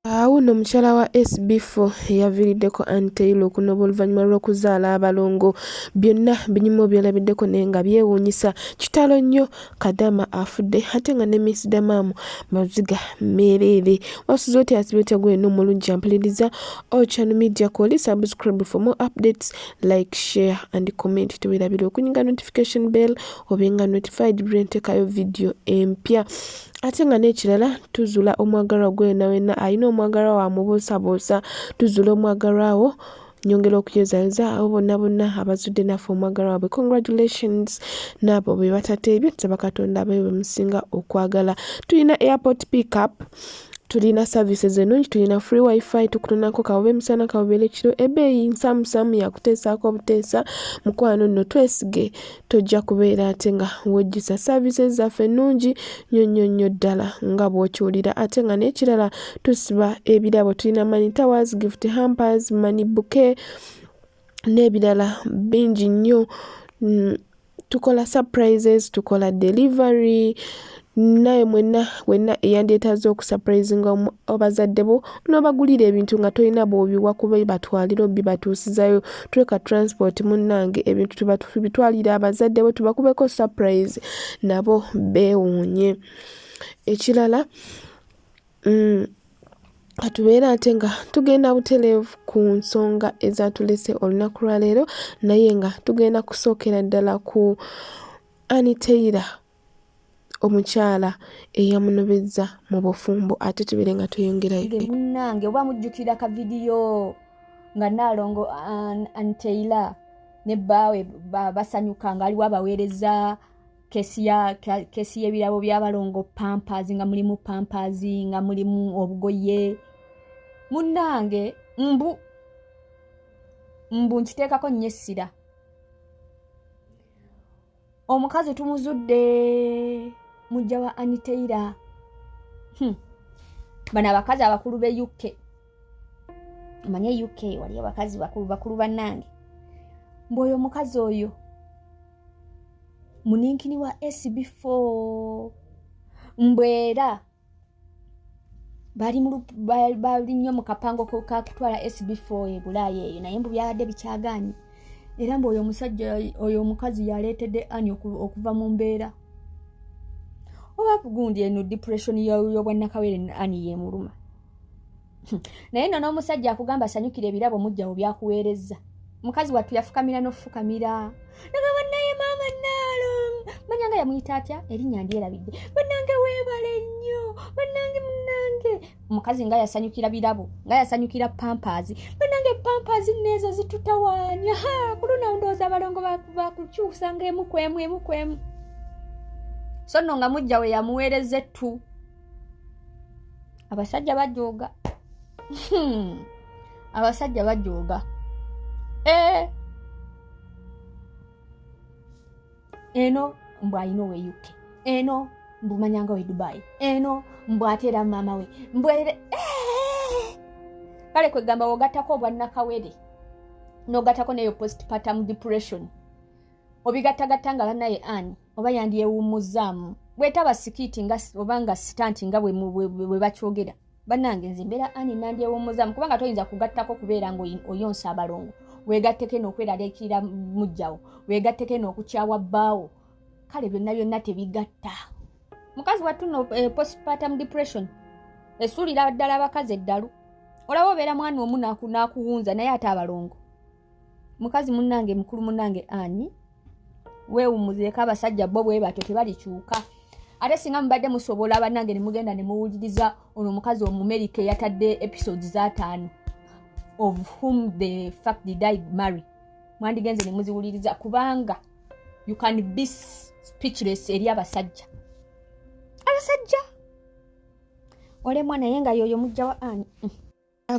Awo nno mukyala wa SB4 eyaviiriddeko Ann Taylor okunoba oluvannyuma lw'okuzaala abalongo byonna binyuma obyolabiddeko naye nga byewuunyisa kitalo nnyo Kadama afudde ate nga ne Miss Damaamu maziga meereere wasuze otya asibe otya gweno omulungi ampuliriza Ochanu Media Koli subscribe for more updates like share and comment tewerabira okunyiga notification bell obenga notified buli lwentekayo vidiyo empya ate nga n'ekirala tuzula omwagalwa gwe wena wena alina omwagalwa wa mubuusabuusa tuzula omwagalwa wo nyongera okuyozayoza abo bonna bonna abazudde naffe omwagala wabwe congratulations naabo be batateebye tusaba katonda abeyo bemusinga okwagala tulina airport pickup tulina services enungi tulina free wifi tukutonako kawube emisana kawubere kiro ebeeyi nsamusamu yakuteesaako obuteesa mukwano nno twesige tojja kubeera ate nga wejjusa services zaffe nnungi nnyo nnyo nnyo ddala nga bw'okiwulira ate nga n'ekirala tusiba ebirabo tulina money towers gift hampers money buke n'ebirala bingi nnyo mm, tukola surprises tukola delivery naye mwenna wenna eyandyetaaze okusapurayizinga abazadde bo n'obagulira ebintu nga tolina bwobiwa kuba batwalira obibatuusizayo tuleka transport munnange ebintu tubitwalire abazadde bo tubakubeko sapurayizi nabo beewuunye ekirala mm, katubeera ate nga tugenda butereevu ku nsonga ezatulese olunaku lwaleero naye nga tugenda kusookera ddala ku aniteyira omukyala eyamunobezza mu bufumbo ate tubere nga tweyongerayo munange oba mujjukira ka vidiyo nga naalongo anteila ne bbaawe basanyuka nga aliwo abaweereza kesi y'ebirabo by'abalongo pampers nga mulimu pampers nga mulimu obugoye munange mbu mbu nkiteekako nnyo essira omukazi tumuzudde mujja wa aniteira hmm. bano abakazi abakulu be uk omanye uk wali abakazi bakulu bakulu banange mbuoyo omukazi oyo muninkini wa sb4 mbwera bali nnyo mu kapango kakutwala sb4 ebulaaya eyo naye mbu byabadde bikyaganye era mbu oyo omusajja oyo omukazi yaleetedde ani okuva mu mbeera oba gundi eno depression yobwannakawere ani yemuluma naye no n'omusajja akugamba asanyukira ebirabo mujjawo byakuweerezza mukazi wattu yafukamira n'ofukamira nagamba naye maama naalo manya nga yamuyita atya erinnya ndyerabidde banange weebale nnyo banange munange omukazi nga yasanyukira birabo nga yasanyukira pampaazi banange pampaazi neezo zitutawaanya ku lunawo ndowooza abalongo bakukyusa nga emu ku emu emu ku emu so nno nga mujja we yamuweereza ettu abasajja bajooga hmm. abasajja bajooga eh. eno mbu ayina owe uk eno mbu manyanga we dubai eno mbu ate era maama we mbwere eh. kale kwegamba wogatako obwannakawere nogatako neyo postpartum depression obigattagatta nga banaye ani oba yandyewummuzzaamu bwetaba sikiiti nga oba nga sitanti nga bwe bakyogera bannange nze mbeera ani nandyewummuzzaamu kubanga toyinza kugattako kubeera nga oyonsa abalongo wegatteko eno okweraliikirira mujjawo wegatteko eno okukyawa bbaawo kale byonna byonna tebigatta mukazi wattu no eh, postpartum depression esuulira ddala abakazi eddalu olaba obeera mwana omu nakuwunza naye ate abalongo mukazi munange mukulu munange ani wewumuzeko abasajja bo bwe batyo tebalikyuka ate singa mubadde musobola banange nemugenda nemuwuliriza ono omukazi omumerika eyatadde episodes zataano of whom the fact did i marry mwandigenze nemuziwuliriza kubanga you can be speechless eri abasajja abasajja olemwa naye nga yoyo mujja wa ani mm.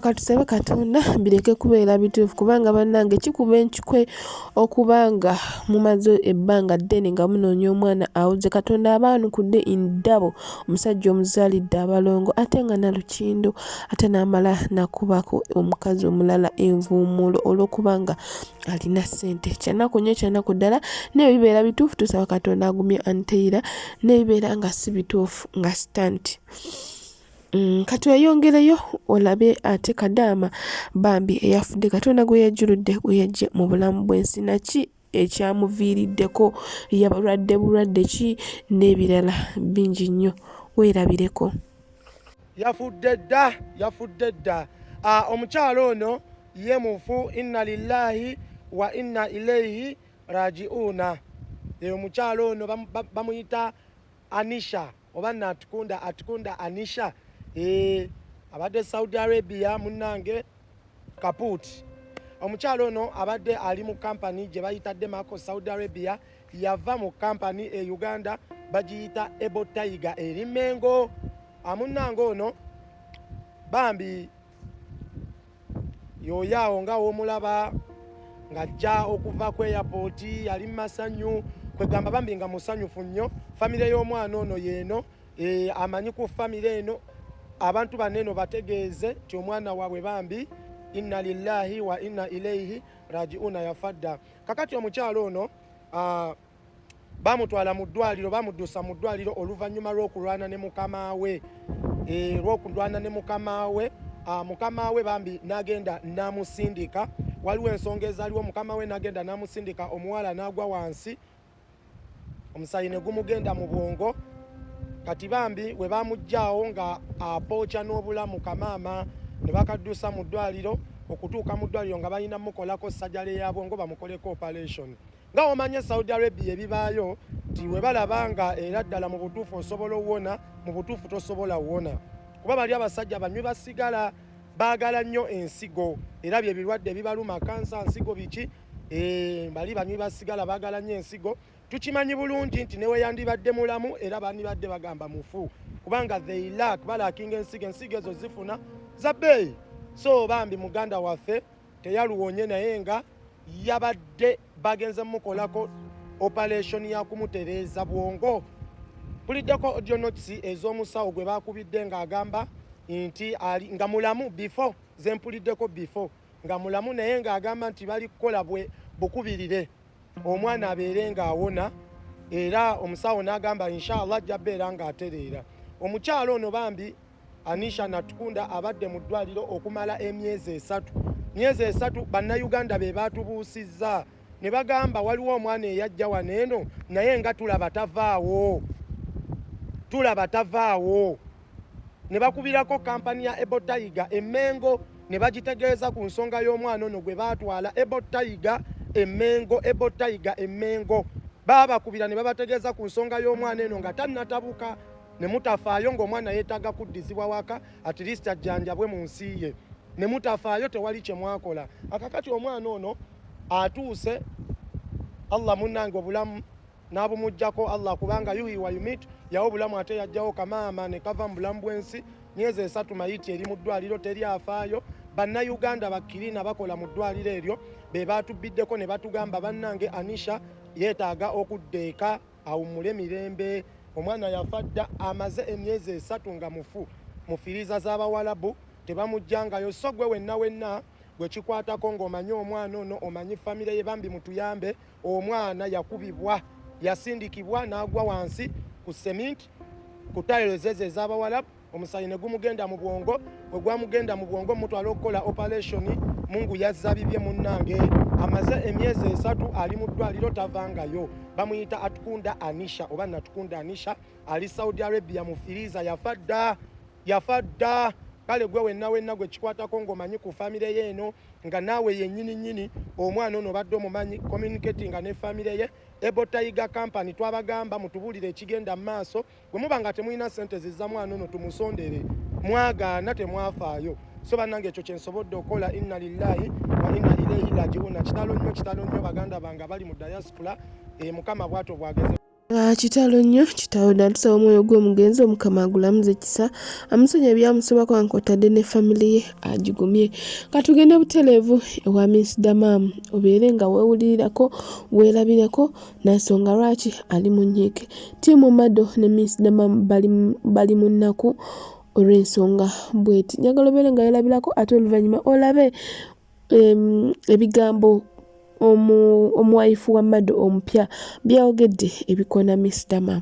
Katusabe Katonda bireke kubeera bituufu kubanga bannange kikuba enkikwe okuba nga mumaze ebbanga ddene nga munoonya omwana awuze Katonda abaanukudde indabo omusajja omuzaalidde abalongo ate nga nalukindo ate n'amala nakubako omukazi omulala envuumuulo olw'okuba nga alina ssente kyanaku nnyo kyanaku ddala naye bibeera bituufu tusaba Katonda agumye Anteira naye bibeera nga si bituufu nga sitanti Mm, kati weyongereyo olabe ate kadaama bambi eyafudde katonda gwe yajjuludde gwe yajje mu bulamu bw'ensi naki ekyamuviiriddeko yabalwadde bulwadde ki n'ebirala bingi nnyo weerabireko yafudde dda yafudde dda ah, omukyalo ono ye mufu inna lillahi wa inna ilaihi rajiuna eyo omukyalo ono bamuyita anisha oba natukunda atukunda anisha eh, abadde saudi arabia munange kaput omukyalo ono abadde ali mu kampani gye bayita demaco saudi arabia yava mu kampani e uganda bagiyita ebo tiger eri mengo amunange ono bambi yoyo awo nga womulaba ng'ajja okuva ku eyapooti yali mu masanyu kwegamba bambi nga musanyufu nnyo famire y'omwana ono yeeno eh, amanyi ku famire eno abantu bano eno bategeeze nti omwana waabwe bambi inna lillahi wa inna ilaihi rajiuna yafadda kakati omukyalo ono ah, bamutwala mu ddwaliro bamuddusa mu ddwaliro oluvannyuma lw'okulwana ne mukama we eh, lw'okulwana ne mukama we ah, mukama we bambi n'agenda n'amusindika waliwo ensonga ezaliwo mukama we n'agenda n'amusindika omuwala n'agwa wansi omusayi ne gumugenda mu bwongo kati bambi we bamuggyaawo nga apooca n'obulamu kamaama ne bakaddusa mu ddwaliro okutuuka mu ddwaliro nga balina mukolako sajale ya bwongo bamukoleko operation nga womanye saudi arabia ebibaayo nti webalaba nga era ddala mu butuufu osobola owona mu butuufu tosobola wona kuba bali abasajja banywi basigala baagala nnyo ensigo era bye birwadde bibaluma kansa nsigo biki eh, bali banywi basigala baagala nnyo ensigo tukimanyi bulungi nti neweyandibadde mulamu era bandibadde bagamba mufu kubanga they lack balakinga ensigo ensigo ezo zifuna za bbeeyi so bambi muganda waffe teyaluwonye naye nga yabadde bagenze mukolako operation yakumutereeza bwongo buliddeko audio notes ez'omusawo gwe bakubidde ng'agamba nti ali nga mulamu before zempuliddeko before nga mulamu naye ng'agamba nti bali kukola bwe bukubirire omwana abeere ng'awona era omusawo n'agamba inshallah ajja beera ng'atereera omukyalo ono bambi Anisha Natkunda abadde mu ddwaliro okumala emyezi esatu. Myezi esatu bannayuganda be baatubuusizza ne bagamba waliwo omwana eyajja wano eno naye nga tulaba tavaawo tulaba tavaawo ne bakubirako kampani ya Ebo Tiger Emengo ne bagitegeeza ku nsonga y'omwana ono gwe baatwala Ebo Tiger Emengo Ebo Tiger Emengo baabakubira ne babategeeza ku nsonga y'omwana eno nga tannatabuka ne mutafaayo ng'omwana yeetaaga kuddizibwa waka at least ajjanjabwe mu nsi ye ne mutafaayo tewali kye mwakola akakati omwana ono atuuse allah munnange obulamu n'abumugjako allah kubanga yuhi wa yumit yawo obulamu ate yajjawo kamaama ne kava mu bulamu bw'ensi myezi esatu mayiti eri mu ddwaliro teri afaayo bannayuganda bakkirina bakola mu ddwaliro eryo be baatubbiddeko ne batugamba bannange anisha yeetaaga okudda eka awummule mirembe omwana yafa dda amaze emyezi esatu nga mufu mu firiiza z'abawalabu tebamujjangayo so gwe wenna wenna gwe kikwatako ng'omanyi omwana ono omanyi famire ye bambi mutuyambe omwana yakubibwa yasindikibwa n'agwa wansi ku seminti ku tayirozezo ez'abawalabu omusaayi ne gumugenda mu bwongo bwe gwamugenda mu bwongo mutwala okukola operation mungu yazza bibye munnange amaze emyezi esatu ali mu ddwaliro tavangayo bamuyita atukunda anisha oba natukunda anisha ali saudi arabia mu firiza yafa dda yafa dda kale gwe wenna wenna gwe kikwatako ng'omanyi ku famire ye eno nga naawe yennyini nnyini omwana ono badde omumanyi communicatinga ne famire ye ebotayiga company twabagamba mutubuulire ekigenda mu maaso bwe muba nga temulina sente ziza mwana ono tumusondere mwagaana temwafaayo so bannange ekyo kyensobodde okukola inna lillahi wa inna ilaihi rajiuna kitalo nnyo kitalo nnyo baganda bange abali mu diaspora e, mukama bwato bwageze ah, kitalo nnyo kitalo natusaba omwoyo gw'omugenzi omukama agulamuza ekisa amusonyi ebyamusobako ankotadde ne family ye agigumye katugende butereevu ewa minsdamam obeere nga wewulirirako werabireko Nansonga lwaki ali mu nyiike. Ttiimu Mado ne Miss Dama bali mu nnaku olw'ensonga bweti. Njagala obeere nga yolabirako ate oluvannyuma olabe ebigambo omuwayifu wa Mado omupya byayogedde ebikoona Miss Dama.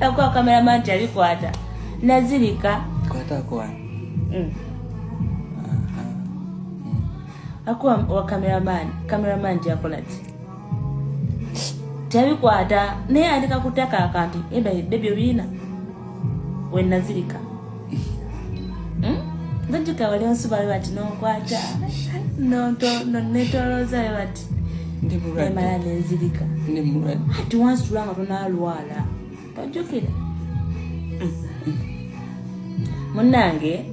Akuwa kamera man tali kwata. Nazirika. Kwata kwa. Mm. Akuwa wa kamera man. Kamera man tya kolati. Tali kwata. Ne andika kutaka akanti. Eba baby obina. We nazirika. Mm. Ndajika wale onsu bali bati no kwata. No to no netoloza bati. ndimulwaddemala nenzirika ndimulwadde ati wansitula nga tonalwala ojjukira munange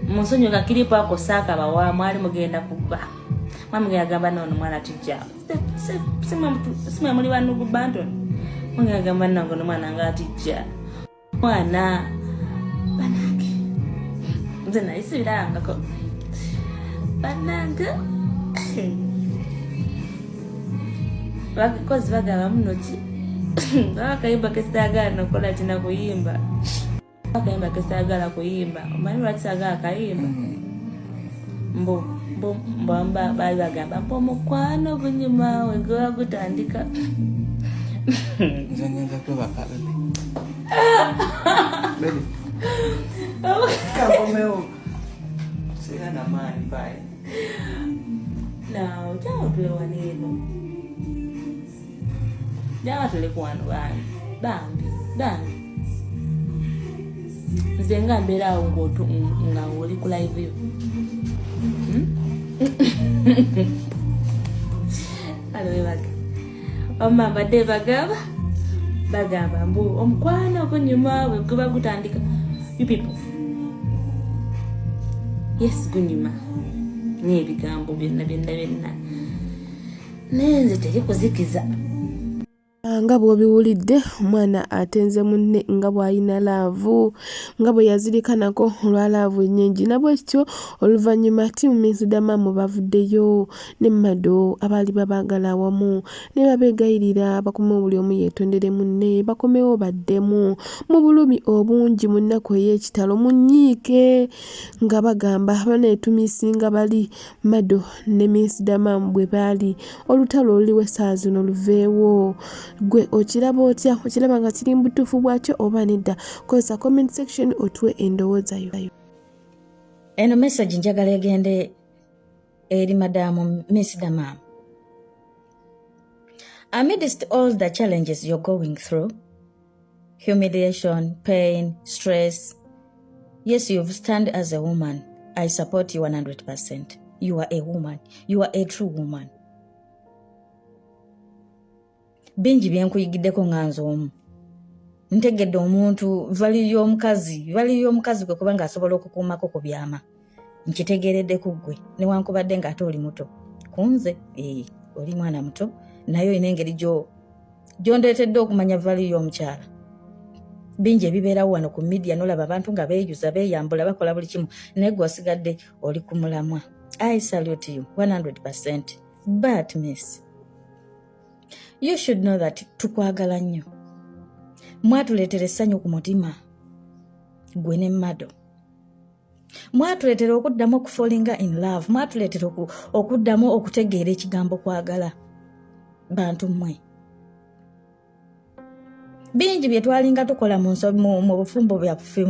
munsonyi nga kiripo ako saakabawa mwali mugenda kuba mwamugenda gamba noono mwana tijja simwe muli banugu banton mugenda gamba nange nomwana nga atijja mwana banange nze nayisibirangako banange bakozi bagaba munoki bakayimba kesagala nokola kina kuyimba bakayimba kesagala kuyimba omanyi lwaki sagala kayimba mm. mbu mbu mbamba baali bagamba mbu omukwano ogunyuma we gwewa gutandika nawe kyaotulewa neeno jama tuli kuwano bambi bambi bambi nze nga mbeera awo ngaotu nga oli ku live yo hmm? alowebaga omma mbadde bagamba bagamba mbu omukwano ogunyuma bweguba gutandika you people yes gunyuma n'ebigambo byonna byonna byonna naye nze teri kuzikiza nga bw'obiwulidde omwana atenze munne nga bw'alina laavu nga bwe yazirikanako olwa laavu ennyingi nabwekityo oluvannyuma tiimu minsidamamu bavuddeyo ne mado abaali babaagala awamu ne babeegayirira bakomewo buli omu yeetondere munne bakomewo baddemu mu bulumi obungi mu nnaku ey'ekitalo munyiike nga bagamba banaetumisinga bali Madu ne Miss Damam bwe baali olutalo oluliwo essaawa zino luveewo gwe okiraba otya okiraba nga kiri mu butuufu bwakyo oba nedda kozesa comment section otuwe endowooza yo eno message njagala egende eri madaamu Miss Damam amidst all the challenges you're going through humiliation, pain, stress. Yes, you've stand as a woman. I support you 100%. You are a woman. You are a true woman. bingi byenkuyigiddeko nga nze omu ntegedde omuntu vali y'omukazi vali y'omukazi kwe kuba ng'asobola okukuumako ku byama nkitegeeredde ku ggwe newankubadde nga ate oli muto ku nze ee oli mwana muto naye olina engeri gyondeetedde okumanya vali y'omukyala bingi ebibeerawo wano ku midiya nolaba abantu nga beeyuza beeyambula bakola buli kimu naye gwe wasigadde oli ku mulamwa i salute you 100 percent but miss you should know that tukwagala nnyo mwatuleetera essanyu ku mutima gwe ne mado mwatuleetera okuddamu okufolinga in love mwatuleetera okuddamu okutegeera ekigambo kwagala bantu mmwe bingi bye twalinga tukola mu bufumbo byaffe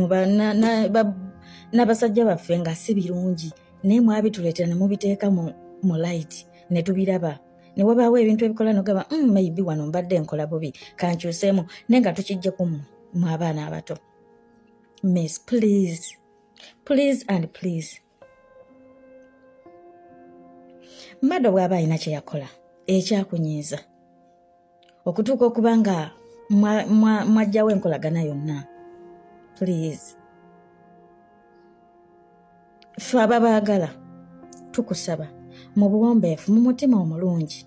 n'abasajja baffe nga si birungi naye mwabituleetera ne mubiteeka mu light ne tubiraba ne wabaawo ebintu ebikola nogamba mm, maybe wano mbadde nkola bubi kankyuseemu naye nga tukijje ku mmwe mu abaana abato miss please please and please mado bw'aba alina kye yakola ekyakunyiiza okutuuka okuba nga mwajjawo enkolagana yonna please fe ababaagala tukusaba mu buwombeefu mu mutima omulungi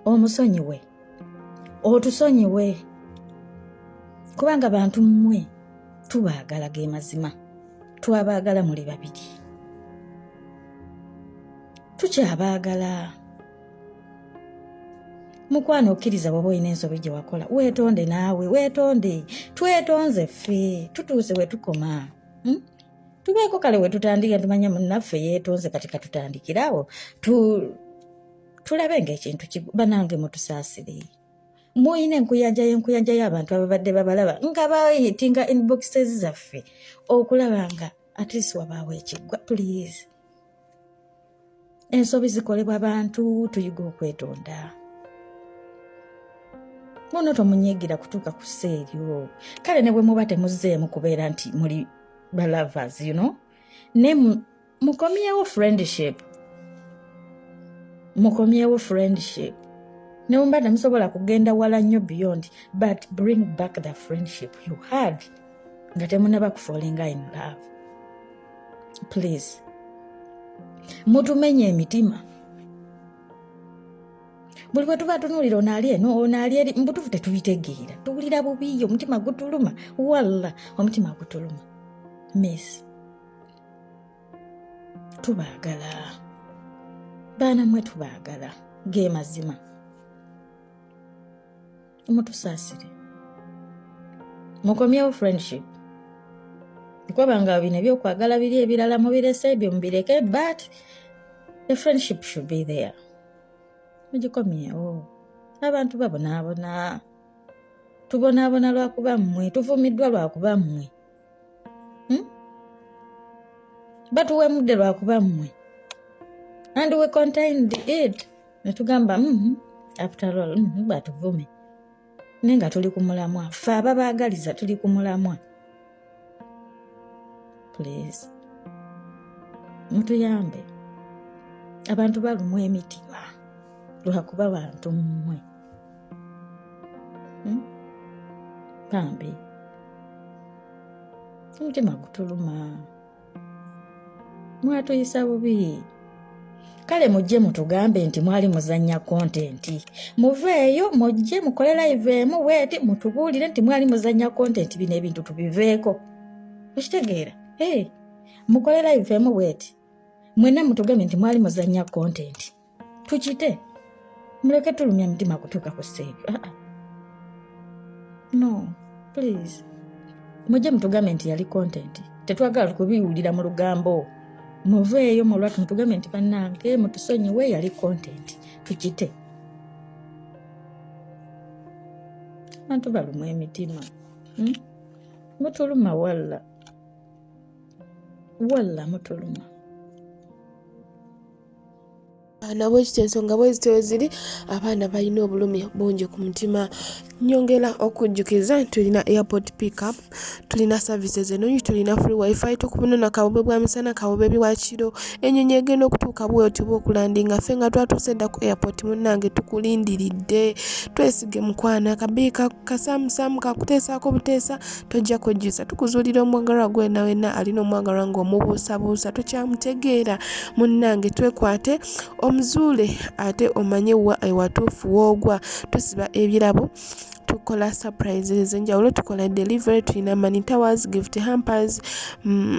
omusonyiwe otusonyiwe kubanga bantu mmwe tubaagala ge mazima twabaagala muli babiri tukyabaagala mukwano okkiriza bwaba olina ensobi gye wakola weetonde naawe weetonde twetonze ffe tutuuse we tukoma hmm? tubeeko kale wetutandika tumanya munnaffe yeetonze kati katutandikirawo tulabe ngaekintu banange mutusaasire muyina enkuyanja yenkuyanja y'abantu ababadde babalaba nga bayitinga inboxes zaffe okulaba nga atleast wabaawo ekiggwa please ensobi zikolebwa bantu tuyiga okwetonda muno tomunyigira kutuuka ku ssa eryo kale ne bwe muba temuzzeemu kubeera nti muli balavers you know ne mukomyewo friendship mukomyewo friendship nemuba temusobola kugenda wala nnyo beyond but bring back the friendship you had nga temunaba kufolinga in love please mutumenya emitima buli bwe tuba tunuulira onaali eno onaali eri mubutuufu tetubitegeera tuwulira bubiyo omutima gutuluma walla omutima gutuluma miss tubaagala baana mwe tubaagala ge mazima mutusaasire mukomyewo friendship kwabanga bino ebyokwagala biri ebirala mubirese ebyo mubireke but the friendship should be there mugikomyewo abantu babonaabona tubonaabona lwakuba mmwe tuvumiddwa lwakuba mmwe hmm? batuwa emudde lwakuba mmwe and we contained it netugamba mm -hmm. after all mm -hmm, batuvume naye nga tuli ku mulamwa fe ababaagaliza tuli ku mulamwa please mutuyambe abantu balumwa emitima lwakuba bantu mmwe hmm? bambi omutima gutuluma mwatuyisa bubi kale mujje mutugambe nti mwali muzannya kontenti muveeyo mujje mukole live emu weeti mutubuulire nti mwali muzannya kontenti bino ebintu tubiveeko okitegeera mukole live emu weeti mwena mutugambe nti mwali muzannya kontenti tukite muleke tulumya mutima kutuuka ku stage ah, ah. no please mujje mutugambe nti yali content tetwagala kubiwulira mu lugambo muveeyo mulwatu mutugambe nti banange mutusonyiwe yali content tukite abantu balumwa emitima hmm? mutuluma walla walla mutuluma abaana bwekiti ensonga bweziti weziri abaana balina obulumi bungi ku mutima nyongera okujjukiza nti tulina airport pickup tulina services enungi tulina free wifi tukubunona kabobe bwa misana kabobe biwakiro enyonyi egenda okutuuka bwoti bwa okulandinga ffe nga twatuuse dda ku airport munnange tukulindiridde twesige mukwana kabiika kasamusamu kakuteesaako buteesa tojja kwejjusa tukuzuulira omwagalwa gwe wena wena alina omwagalwa ng'omubuusabuusa tokyamutegeera munnange twekwate omuzuule ate omanye wa ewatuufu woogwa tusiba ebirabo tukola surprises enjawulo tukola delivery tulina money towers gift hampers mm,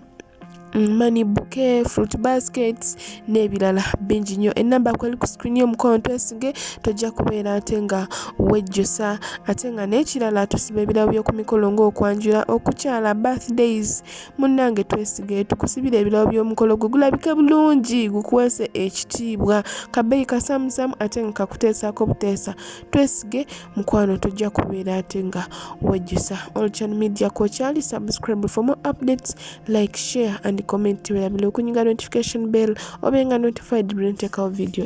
money bouquet fruit baskets n'ebirala bingi nnyo ennamba kweli ku screen y'omukono twesige tojja kubeera ate nga wejjusa ate nga n'ekirala tusiba ebirabo by'oku mikolo ng'okwanjula okukyala birthdays munnange twesige tukusibira ebirabo by'omukolo gwe gulabike bulungi gukuweese ekitiibwa kabeeyi kasamusamu ate nga kakuteesaako buteesa twesige mukwano tujja kubeera ate nga wejjusa olchan media kokyali subscribe for more updates like share and comment werabile okunyiga notification bell obenga notified brenteekawo video